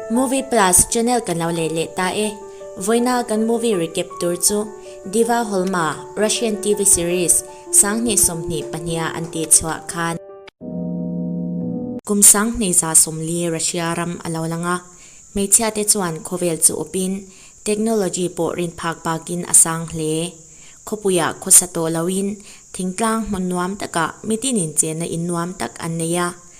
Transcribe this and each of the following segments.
Movie Plus channel kan lo leh leh ta e. Vawiina kan movie recap tur chu Diva Holma, Russian TV series, Sanghnih sawmhnih pahniha an tih chhuah khan. Kum sanghnih za sawmli Russia ram a lo lang a, hmeichhia te chuan khawvel chu awpin technology pawh rinphak bakin a sang hle. Khawpuia khawsa tawh loin thingtlang hmun nuam takah mitin inchena in nuam tak an nei a,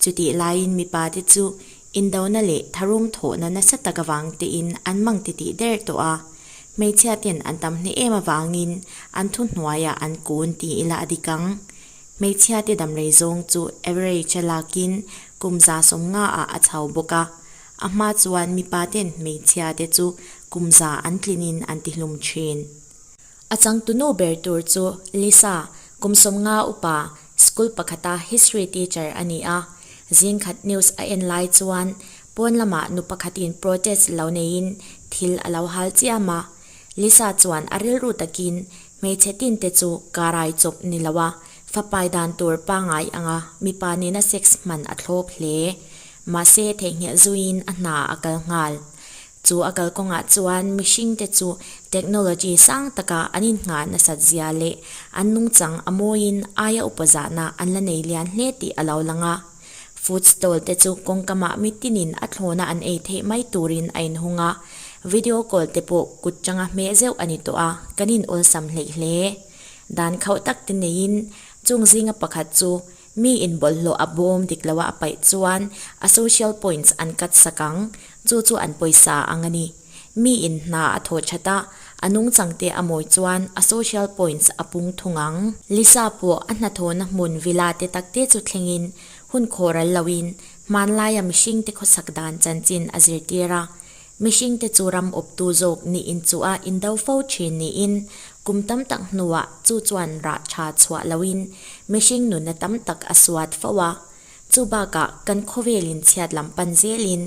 Chutih laiin mipa te chu indona leh tharum thawhna nasa tak avang tein an mang ti tih der tawh a, hmeichhia ten an tam hneh em avangin an thu hnuaiah an kun ti ila a dik ang. Hmeichhia te damrei zawng chu average a lakin kum za sawm nga ah a chho bawk a, a hma chuan mipa ten hmeichhia te chu kum za an tlinin an tihlum thin. A changtunu ber tur chu Lisa, kum sawm nga upa, School pakhata History teacher a ni a, Zingkhat News a en lai chuan pawn lama nu pakhatin protest lo neiin thil a lo hal chiam a. Lisa chuan a rilru takin, Hmeichhe tinte chu karai chawp ni lo a, fapai dan tur pangai anga mipa nena sex hman a thlawp hle. Mahse, theihnghilh zuiin a hna a kal nghal. Chu a kal kawngah chuan mihring te chu technology sang taka an inngah nasat zia leh an nungchang a mawiin aia upa zahna an la nei lian hle tih a lo lang a. Food stall te chu kawngkamah mitinin a thlawna an ei theih mai turin a inhung a, video call te pawh kut tanga hmeh zeuh a ni tawh a, kan inawlsam hleih hle. Dan khauh tak te neiin chung zinga pakhat chu Mi in bawlhhlawh a bawm dik lo a, a paih chuan a social points an cut sak ang, chu chu an pawisa ang a ni. Mi in hna a thaw that a, a nungchang te a mawi chuan a social points a pung thung ang. Lisa pawh a hnathawna hmun villa te tak te chu thlengin hun khawral loin hmanlaia mihringte khawsak dan chanchin a zirtir a. Mihringte chu ram awptu zawk ni in chu a indo fo thin niin kum tam tak hnuah chu chuan rah tha chhuah loin mihring nuna tam tak a suat fo a. Chu bakah kan khawvelin chhiat lam pan zelin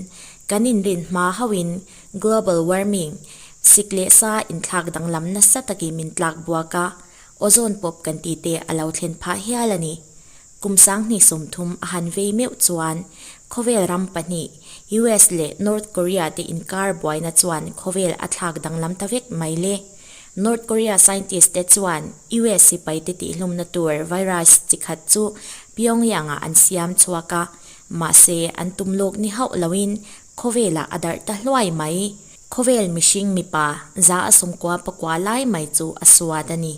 kan inrin hma hoin global warming, sik leh sa inthlak danglam nasa takin min tlak buaka ozone pawp kan tite a lo thlen phah hial a ni. Kum sanghnih sawmthum a han vei meuh chuan khawvel ram pahnih US leh North Korea te inkar buaina chuan khawvel a thlak danglam ta vek mai le. North Korea scientist te chuan US sipai te tihhlumna tur virus chi khat chu Pyongyang-ah an siam chhuak a, mahse an tum lawk ni hauh loin khawvelah a darh ta hluai mai. Khawvel mihring mipa za a sungkua pakua lai mai chu a suat a ni.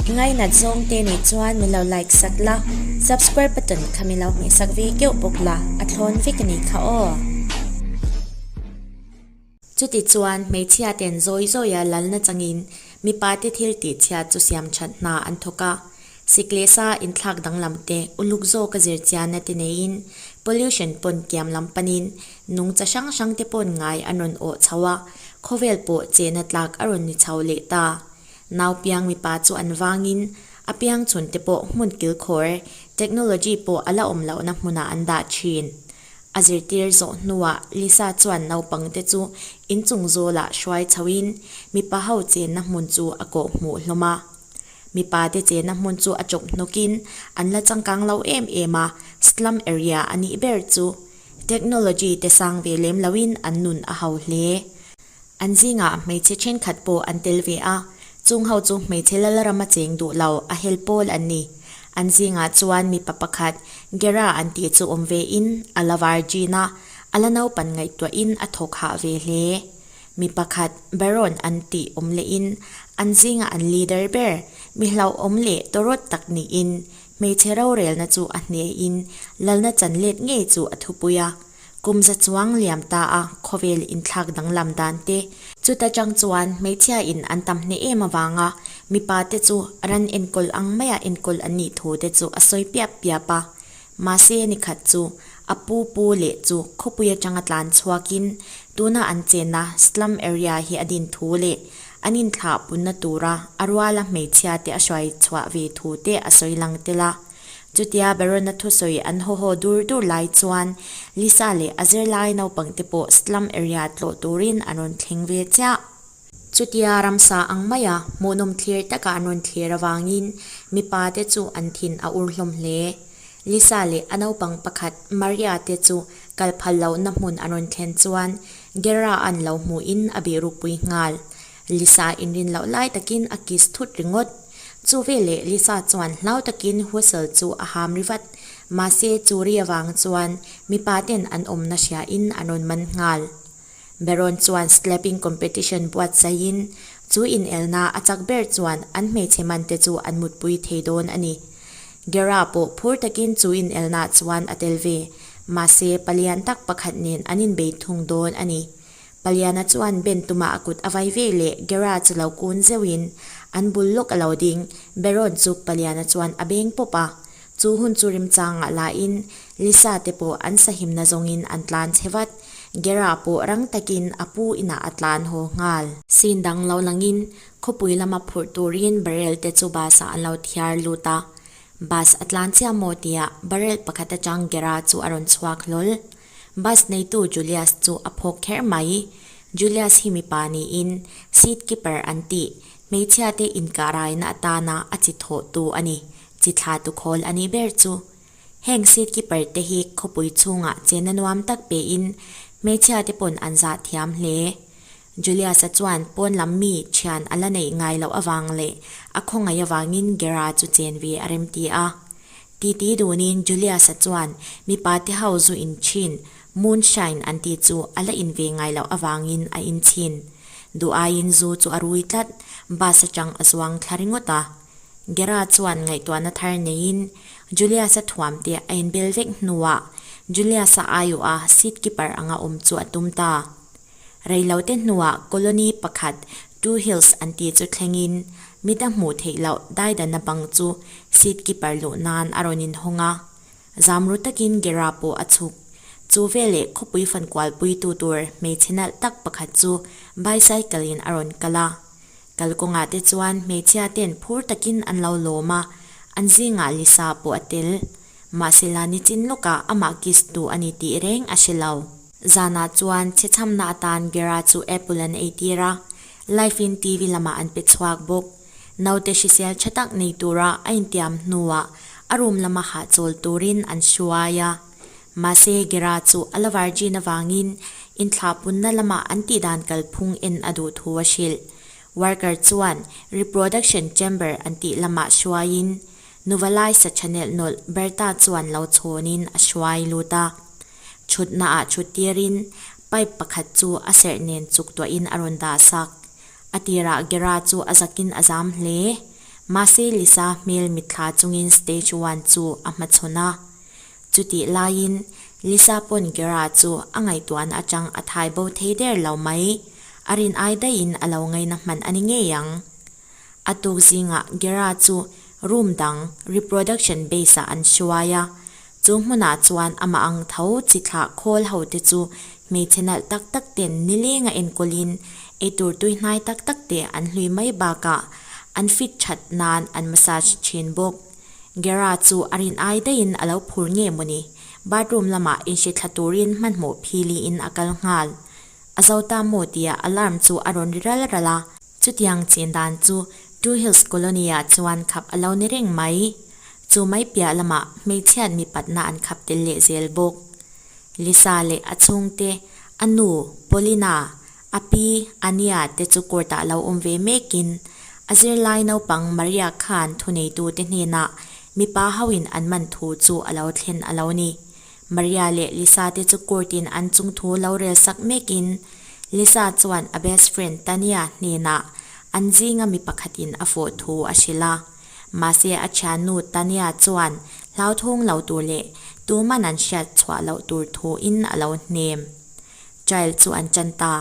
Ngainat zawng te nih chuan min lo like sat la, subscribe button kha min lo hmeh sak ve keuh bawk la, a thlawn vek a ni kha aw. Chuti chuan hmeichhia ten zawi zawi a lal na changin mipa te thil tih chhiat chu siam that hna an thawk a, siklesa inthlak danglam te, uluk zawka zirchianna te neiin, pollution pawn kiam lam panin Nung cha hrang hrang te pawn ngai an rawn awh chho a, khawvel pawh chehna tlak a rawn ni chho leh ta. Nau piang mipa chu an vangin a piang chhun te pawh hmun kil khawr, technology pawh a la awm lohna hmunah an dah thin. A zirtir zawh hnuah Lisa chuan naupang te chu in chung zawlah hruai chhoin mipa ho chenna hmun chu a kawh hmuh hlawm a. Mipa te chehna hmun chu a chawp hnawkin an la changkang lo em em a, slum area a nih ber chu. Technology te sang ve lem loin an nun a hau hle. An zingah hmeichhe thenkhat pawh an tel ve a, chung ho chu hmeichhe Lalram a cheng duh lo, a hel pawl an ni. An zingah chuan mipa pakhat Gera an tih chu awm ve in a la var gin a, a la naupan ngaihtuah in a thawk hah ve hle. Mi pakhat Baron an tih awm leh in an zingah an leader ber, mi hlauhawm leh tawrawt tak niin Hmeichhe rorelna chu a hnehin lalna chan let ngei chu a thupui a, kum za chuang liam ta a khawvel inthlak danglam dan te. Chuta chang chuan hmeichhia in an tam hneh em avanga mipa te chu ran enkawl ang mai a enkawl an nih thu te chu a sawi piap piap a. Mahse nikhat chu a pu pu leh chu khawpui atanga tlan chhuakin tuna an chenna slum area hi a din thu leh An inthlah punna tura a ruala hmeichhia te a hruai chhuah ve thu te a sawi lang tel a. Chutia Baron-a thusawi an haw haw dur dur lai chuan Lisa leh a zirlai naupang te pawh slum area tlawh turin an rawn thleng ve chiah. Chutia ramsa ang maia hmuhnawm thlir taka an rawn thlir avangin mipa te chu an thin a ur hlawm hle. Lisa leh a naupang pakhat Maria te chu kal phallohna hmun an rawn thlen chuan Gera an lo hmuh in a beh rukpui nghal. Lisa inrin loh lai takin a kiss thut ringawt. Chu veleh Lisa chuan hlau takin whistle chu a ham rivat. Mahse chu ri avang chuan mipa ten an awmna hria in an rawn man nghal. Beron chuan slapping competition buatsaih in chu inelna a chak ber chuan an hmeichhe man te chu an mutpui thei dawn a ni. Gera pawh phur takin chu inelnah chuan a tel ve. Mahse, palian tak pakhat nen an inbei thung dawn a ni. Paliana chuan Ben tumah a kut a vai ve leh Gera chu lo kun zeuhin an bul lawk a lo ding. Beron chu paliana chuan a beng pawp a. Chu hun chu rimchangah lahin Lisa te pawh an sahimna zawngin an tlan chhe vat. Gera pawh rang takin a pu inah a tlan haw nghal. Sin dang lo langin Khawpui lama phurh turin barrel te chu bus ah an lo thiar lut a, bus a tlan chiah maw tiah barrel pakhat atang Gera chu a rawn chhuak hlawl. Bus neitu Julius chu a phawk kher mai i, Julius hi mipa niin seat keeper an ti, hmeichhia te inkahraina atana a chi thawh tu a ni, chi thla tu khawl a nih ber chu. Heng seat keeper te hi khawpui chhungah chenna nuam tak pein hmeichhia te pawn an zahthiam hle. Julius-a chuan pawn lam mi thian a la neih ngai loh avang leh a khawngaih avangin Gera chu chen ve a remti a. Titi dunin Julius-a chuan mipa te ho zu in thin, moonshine an tih chu a la in ve ngai loh avangin a in chhin. Duh aiin zu chu a rui tlat, bus atang a zuang thla ringawt a. Gera chuan ngaihtuahna thar neiin Julius-a thuam te a inbel vek hnuah Julius-a aiawha seat keeper anga awm chu a tum ta. Reilote hnuah colony pakhat Two Hills an ti chu thlengin mit a hmuh theih loh daidana bang chu seat keeper luh nan a rawn inhawng a, zam ru takin Gera pawh a chhuk. Chu veleh khawpui fankual puitu tur hmeichhe nalh tak pakhat chu bicycle in a rawn kal a. Kalkawngah te chuan hmeichhia ten phur takin an lo lawm a, an zingah Lisa pawh a tel. Mahsela nichin lawkah amah kiss tu a ni tih reng a hre lo. Zanah chuan chhichhamna atan Gera chu Apple an ei tir a, Life in TV lamah an pe chhuak bawk. Naute hrisel tha tak nei tura a intiam hnuah a rum lama hahchawl turin an hruai a. Mahse, Gera chu a la virgin avangin inthlah punna lama an tih dan kalphung en a duh thu a hrilh. Worker chuan reproduction chamber an tih lamah hruaiin Nuvalaisa Channel nolh Berta chuan lo chhawnin a hruai lut a, thutna ah thut tirin pipe pakhat chu a serh nen chuk tuah in a rawn dah sak. A tirah Gera chu a zak in a zam hle. Mahse Lisa hmel mit thla chungin stage one chu a hmachhawn a. Chutih laiin Lisa pawn Gera chu a ngaihtuahna atang a thai bo thei der lo mai. A rin ai daihin a lo ngaina hman a ni ngei ang. A tuk zingah Gera chu room dang reproduction base-ah an hruai a, chu hmunah chuan amah ang tho chi thlah khawl hote chu hmeichhe nalh tak tak ten nilenga enkawlin eitur tuihnai tak tak te an hlui mai bakah an fit that nan an massage thin bawk. Gera chu a rin ai daihin a lo phur nge maw ni? Bathroom lamah inhre thla turin hmanhmawh philiin a kal nghal. A zo ta maw tia alarm chu a rawn ri ral ral a. Chutiang chin dan chu Two Hills Colony-ah chuan khap a lo ni reng mai. Chu mai piah lamah hmeichhiat mipatna an khap tel leh zel bawk. Lisa leh a chhungte, a nu Paulina, a pi Ania te chu court ah lo awm ve mekin, a zirlai naupang Maria khan thuneitute hnenah mipa hoin an man thu chu a lo thlen a lo ni. Maria leh Lisa te chu Kurt in an chung thu lo rel sak mek in Lisa chuan a best friend Tania hnenah an zinga mi pakhat in a fawh thu a hrilh a. Mahse a thian nu Tania chuan hlauthung lo tur leh tuman an hriat chhuah loh tur thu in a lo hnem. Trial chu an chan ta.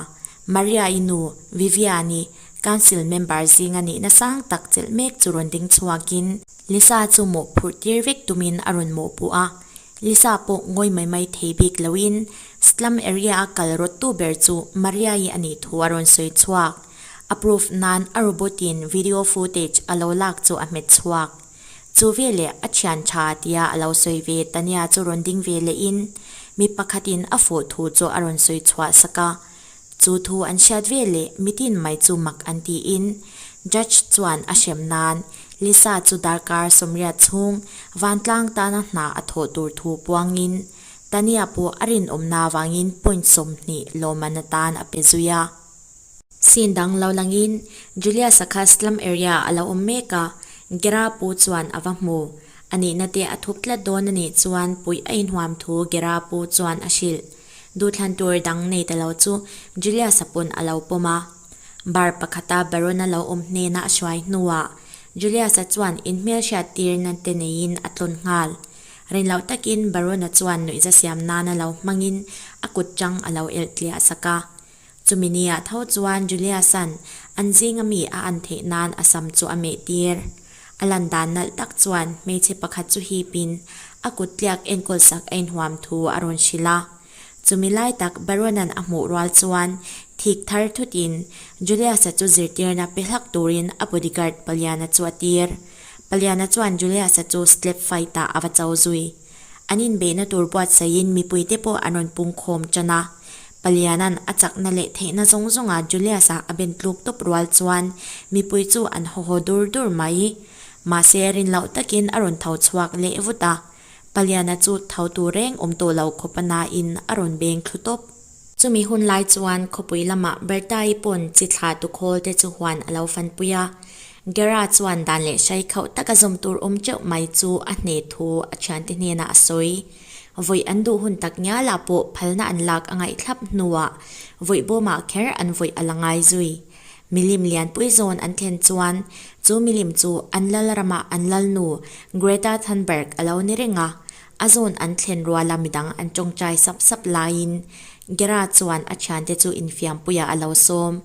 Maria i nu Vivian i council member zinga nihna sang tak chelh mek chu rawn ding chhuak in, Lisa chu mawhphurh tir vek tumin a rawn mawhpuh a, Lisa pawh ngawi mai mai thei bik loin slum area a kal rawt tu ber chu Maria-i a nih thu a rawn sawi chhuak. A proof nan a robot-in video footage a lo lak chu a hmet chhuak. Chu veleh a thian tha tia a lo sawi ve, Tania chu rawn ding ve lehin mi pakhatin a fawh thu chu a rawn sawi chhuah sak a. Chu thu an hriat ve le mitin mai chu mak an ti in Judge chuan a hrem nan Lisa chu darkar sawmriat chhung vantlang tana hna a thawh tur thu puang in Tania pawh a rinawm na avangin point sawmhnih lawmman atan a pe zui a. Scene dang lo lang in Julius-a kha slum area a lo awm mek a, Gera pu chuan a va hmu. A nihna te a thup tlat dawn a nih chuan Puia inhuam thu Gera pu chuan a hrilh. Duhthlan tur dang nei te lo chu Julius-a pawn a lo pawm a. Bar pakhata Baron-a lo awm hnena a hruai hnuah Julius-a chuan in hmelhriat tirna te neiin a tlawn nghal. Rin loh takin Baron-a chuan nuihza siam nana lo hmangin a kut chang a lo elh tliahsak a. Chumi ni ah tho chuan Juliasan an zing a mi a an theih nan a sam chu a meh tir. A lan dan nalh tak chuan hmeichhe pakhat chu hip in a kut tliak enkawl sak a in huam thu a rawn hrilh a. Chumi lai tak Baronan a hmuh rual chuan thik thar thut in Juliasa chu zirtirna pe hlak tur in a bodyguard Paliana chu a tir. Paliana chuan Juliasa chu slap fight ah a va cho zui. An inbeihna tur buatsaihin mipuite pawh an rawn pungkhawm tan a. Paliana'n a chakna leh theihna zawng zawngah Julius-a a ben tluk tawp rual chuan mipui chu an haw haw dur dur mai i. Mahse, rin loh takin a rawn tho chhuak leh vut a. Paliana chu tho tur reng awm tawh loh khawpa nain a rawn beng thlu tawp. Chumi hun lai chuan khawpui lamah Berta-i pawn chi thla tukhawl te chu huan a lo fanpui a, Gera chuan dan leh hrai khauh taka zawm tur awm teuh mai chu a hne thu a thiante hnena a sawi. Vawi an duh hun tak ngialah pawh phalna an lak a ngaihthlap hnuah vawi bawmah kher an vawi a la ngai zui. Milim lianpui zawn an thlen chuan chu milim chu an Lalramah an Lalnu Greta Thunberg a lo ni reng a, A zawn an thlen rual a, midang an tawngtai sap sap laiin Gera chuan a thiante chu infiampuiah a lo sawm.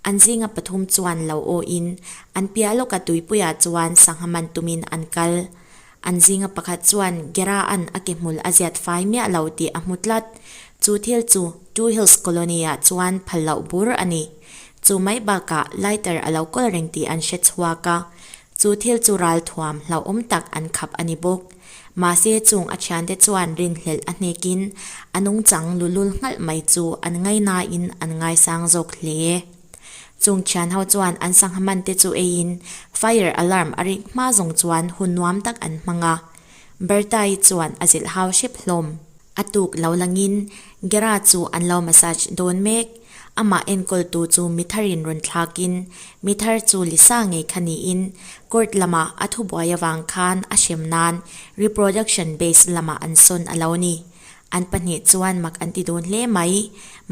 An zinga pathum chuan lo awiin an piah lawka tuipuiah chuan sangha man tumin an kal. An zinga pakhat chuan Gera an a ke hmul a ziat fai miah lo tih a hmu tlat. Chu thil chu Two Hills Colony ah chuan phal loh bur a ni. Chu mai bakah lighter a lo kawl reng tih an hre chhuak a, Chu thil chu ral thuam hlauhawm tak an khap a ni bawk. Mahse chung a thiante chuan rinhlelh a hnekin a nungchang lulul nghalh mai chu an ngaih nain an ngaisang zawk hle. Chung thian ho chuan an sangha man te chu eiin fire alarm a ring hma zawng chuan hun nuam tak an hmang a. Berta-i chuan a zilh hau hrep hlawm. A tuk lo langin Gera chu an lo massage dawn mek. Amah enkawl tu chu mi thar in rawn thlak in mi thar chu Lisa ngei kha niin court lamah a thubuai avang khan a hrem nan reproduction based lamah an sawn a lo ni. An pahnih chuan mak an ti dun hle mai.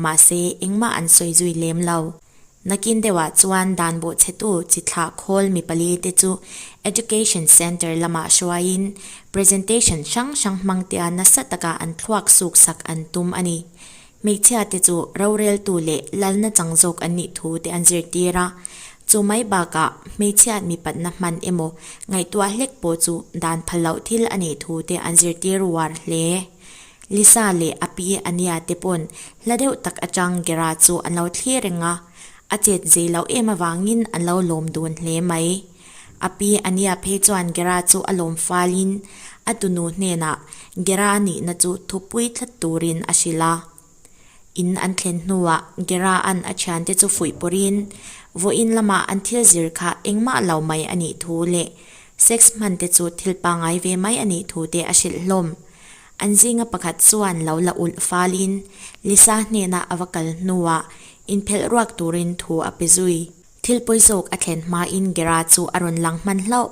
Mahse, engmah an sawi zui lem lo. Nakin deuhah chuan dan bawhchhetu chi thlah khawl mi pali te chu Education Centre lamah hruaiin presentation hrang hrang hmangtea nasa taka an thluak suk sak an tum a ni. Hmeichhia te chu roreltu leh lalna chang zawk an nih thu te an zirtir a, chu mai bakah hmeichhia mi patna hman emaw ngaihtuah hlek pawh chu dan phalloh thil a nih thu te an zirtir uar hle. Lisa leh a pi ania te pawn hla deuh tak atang Gera chu an lo thlir reng a, a chet zei lo em avangin an lo lawm dun hle mai. A pi ania phei chuan Gera chu a lawm falin a tunu hnenah Gera a nihna chu thupui thlat turin a hrilh a. In an thlen hnuah Gera an a thiante chu fuih pawrin vawiin lamah an thil zir kha engmah lo mai a nih thu leh sex hmante chu thil pangai ve mai a nih thu te a hrilh hlawm. An zinga pakhat chuan lo la ulh falin Lisa hnena a va kal hnuah inphelh ruak turin thu a pe zui. Thil pawi zawk a thlen hmain Gera chu a rawn lang hman hlauh.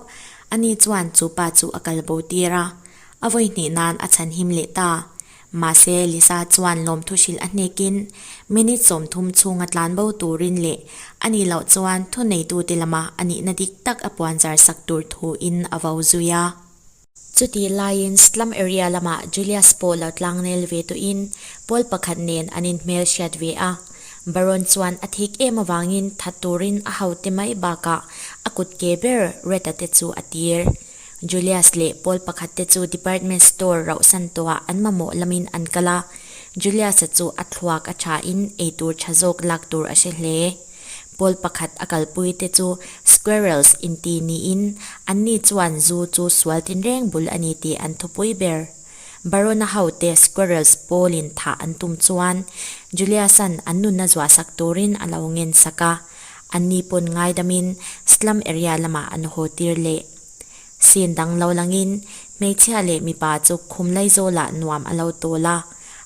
Ani chuan chu pa chu a kal bo tir a, a vawi hnih nan a chhanhim leh ta. Mahse, Lisa chuan lawmthu hrilh a hnekin minute sawmthum chhunga tlan bo turin leh a nih loh chuan thuneitute lama a nihna dik tak a puanzar sak tur thuin a vo zui a. Chutih laiin slum area lamah Julius pawh lo tlang nel ve tuin Paul pakhat nen an inhmel hriat ve a. Baron chuan a thik em avangin that turin a haute mai bakah a kut ke ber Retta te chu a tir. Julius leh Paul pakhat te chu department store rauhsan tawhah an mamawh lamin an kal a. Julius-a chu a thluak a thain eitur tha zawk lak tur a hre hle. Pawl pakhat a kalpui te chu squirrels inti niin anni chuan zu chu sual tinreng bul a ni tih an thupui ber. Barona hote squirrels pawlin thah an tum chuan Juliusan an nunna zuahsak turin a lo ngensak a, anni pawn ngaidamin slum area lamah an haw tir leh. Sin dang lo langin hmeichhia leh mipa chu khumlai zawlah nuam a lo tawl a.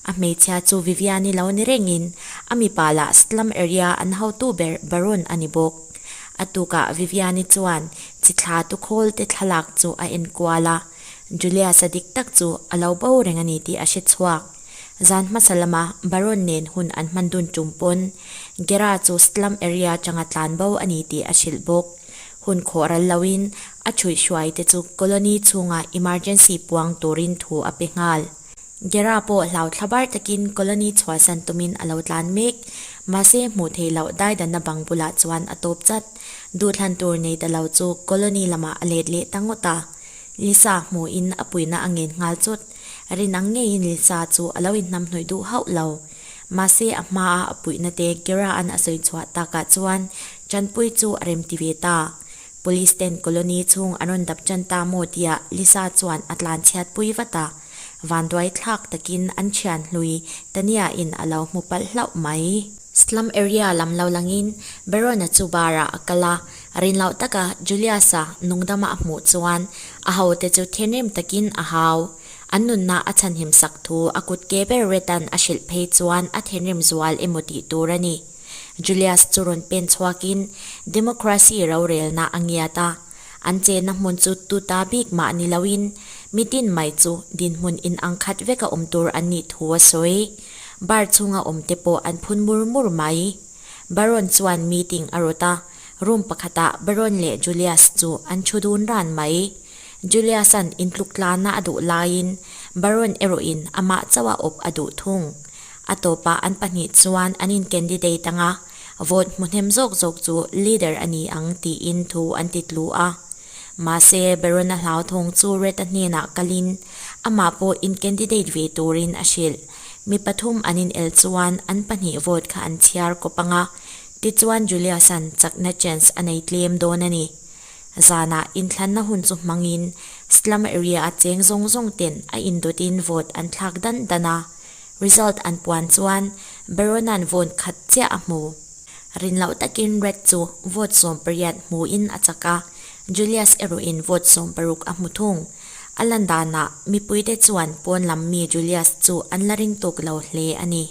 A hmeichhia chu Viviani lo ni rengin a mipa lah slum area an hotu ber Baron a ni bawk. A tukah Viviani chuan chi thla tukhawl te thlalak chu a enkual a, Julius-a dik tak chu a lo bo reng a ni tih a hre chhuak. Zan hmasa lama Baron nen hun an hman dun tum pawn Gera chu slum area changa tlan bo a ni tih a hrilh bawk. Hun khawh ral loin a chhuih hruai te chu colony chhungah emergency puang turin thu a pe nghal. Gera pawh hlau thla bar takin colony chhuahsan tumin a lo tlan mek. Mahse hmuh theih loh daidanna bang bulah chuan a tawp chat. Duhthlan tur nei ta lo chu colony lamah a let leh ta ngawt a. Lisa hmuhin a puina a ngen nghal chawt. Rin ang ngeiin Lisa chu a lo inhnam hnuih duh hauh lo. Mahse a hmaa a puina te Gera-an a sawi chhuah takah chuan Chanpuii chu a rem ti ve ta. Police ten colony chhung an rawn dap chan ta maw tia Lisa chuan a tlan chhiat pui vat a. Vanduai thlak takin an thian hlui Tania in a lo hmu palh hlauh mai. Slum area lam lo langin Berona chu bar ah a kal a. A rin loh taka Julius-a nungdam ah a hmuh chuan a ho te chu thinrim takin a hau. An nunna a chhanhim sak thu a kut ke ber Retan a hrilh phei chuan a thinrim zual emaw tih tur a ni. Julius chu rawn pen chhuakin democracy rorelna a ngiat a, an chenna hmun chu tu ta bik mah ni loin mi dinmai chu dinhmun inang khat veka awm tur an nih thu a sawi. Bar chhunga awmte pawh an phun mur mur mai. Baron chuan meeting a rawt a, room pakhatah Baron leh Julius chu an thu dun ran mai. Julius-a'n intluk tlanna a duh laiin Baron erawhin amah chauha awp a duh thung. A tawpah an pahnih chuan an in candidate anga vote hmuhnem zawk zawk chu leader a ni ang tiin thu an ti tlu a. Mahse Berona Hlauthawng chu Reta hnenah kalin amah pawh in candidate ve turin a hrilh. Mi pathum an in el chuan an pahnih vote kha an chhiar kawp anga tichuan Julius-a'n chakna chance a nei tlem dawn a ni. Zanah inthlanna hun chu hmangin slum area-a cheng zawng zawng ten a in dutin vote an thlak dan dan a. Result an puan chuan Berona'n vawn khat chiah a hmu. Rin loh takin Red chu vote sawm pariat hmuin a chak a, Julius erawhin vote sawm paruk a hmu thung. A lan danah mipuite chuan pawn lam mi Julius chu an la ring tuk lo hle a ni.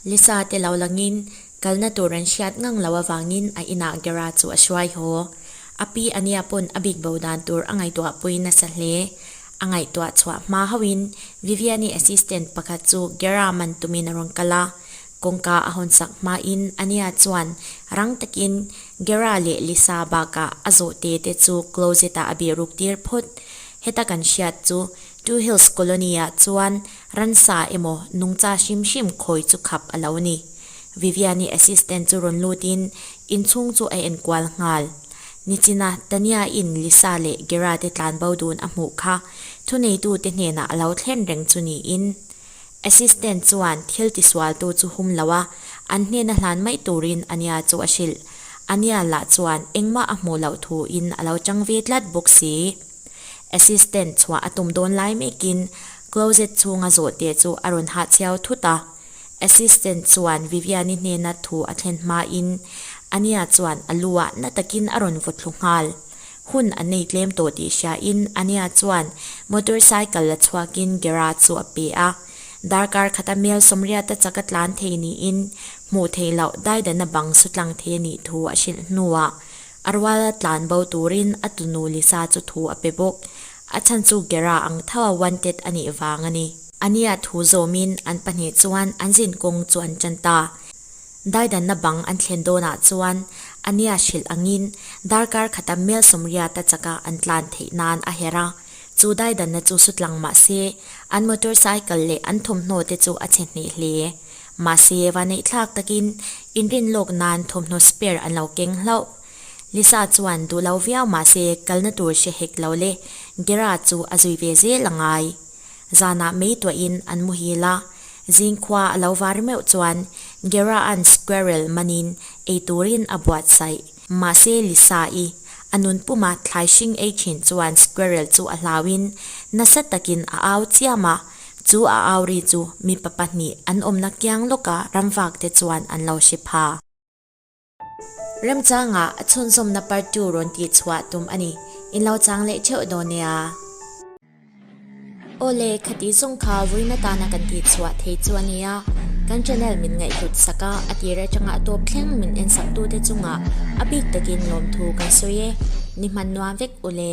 Lisa te lo langin Kalna tur an hriat ngang lo avangin a inah Gera chu a hruai haw. A pi ania pawn a bik bo dan tur a ngaihtuah puiin a sa hle. A ngaihtuah chhuah hma hoin Vivian-i assistant pakhat chu Gera man tumin a rawn kal a, kawngka a hawn sak hmain ania chuan rang takin Gera leh Lisa bakah a zawh te te chu closet-ah a beh ruk tir phawt. Heta kan hriat chu Two Hills Colony-ah chuan Ransa emaw nungcha hrim hrim khawi chu khap a lo ni. Vivian-i assistant chu rawn lutin inchhung chu a enkual nghal. Nichina Tania-in Lisa leh Gerard-te tlan bo dun a hmuh kha thuneitute hnenah a lo thlen reng chu niin, assistant chuan thil tisualtu chu hum lo a, an hnena hlan mai turin Ania chu a hrilh. Ania lah chuan engmah a hmuh loh thuin a lo chang ve tlat bawk si. Assistant chhuah a tum dawn lai mekin closet chhunga zawhte chu a rawn hah chhiau thut a. Assistant chuan Vivian-i hnena thu a thlen hmain Ania chuan a lu ah na takin a rawn vaw thlu nghal. Hun a nei tlem tawh tih hriain Ania chuan motorcycle la chhuakin garage chu a pe a. Darkar khat a mel sawmriat a chak a tlan thei niin hmuh theih loh daidanah bang sutlang thei a nih thu a hrilh hnuah A rual a tlan bo turin a tunu Lisa chu thu a pe bawk. A chhan chu Gera ang tho a wanted a nih vang a ni. Ania thu zawmin an pahnih chuan an zin kawng chu an chan ta. Daidanna bang an thlen dawnah chuan Ania hrilh angin darkar khata Melsomria ta chaka an tlan theih nan a herh a. Chu daidanna chu sutlang mahse, an motorcycle leh an thawmhnaw te chu a chhe hneh hle. Mahse, vaneihthlak takin inrin lawk nan thawmhnaw spare an lo keng hlauh. Lisa chuan duh lo viau mahse kalna tur hre hek lo le Gera chu a zui ve zel a ngai. Zanah meituah in an muhil a, zing khua a lo var meuh chuan Gera-a'n squirrel manin ei turin a buatsaih. Mahse Lisa i a nunpuma thlai hring ei thin chuan squirrel chu a hlauin nasa takin a au chiam a, chu a au ri chu mipa pahnih an awmna kiang lawka ramvakte chuan an lo hre pha. Remchanga a chhunzawmna partu rawn tihchhuah tum a ni, in lo chang leh theuh dawn e a. Awle, khatih zawng kha vuina tana kan tih chhuah thei chu a nia, kan channel min ngaihhlut sak a, a tir atanga tawp thleng min en sak tute chungah a bik takin lawm thu kan sawi e, ni hman nuam vek ule.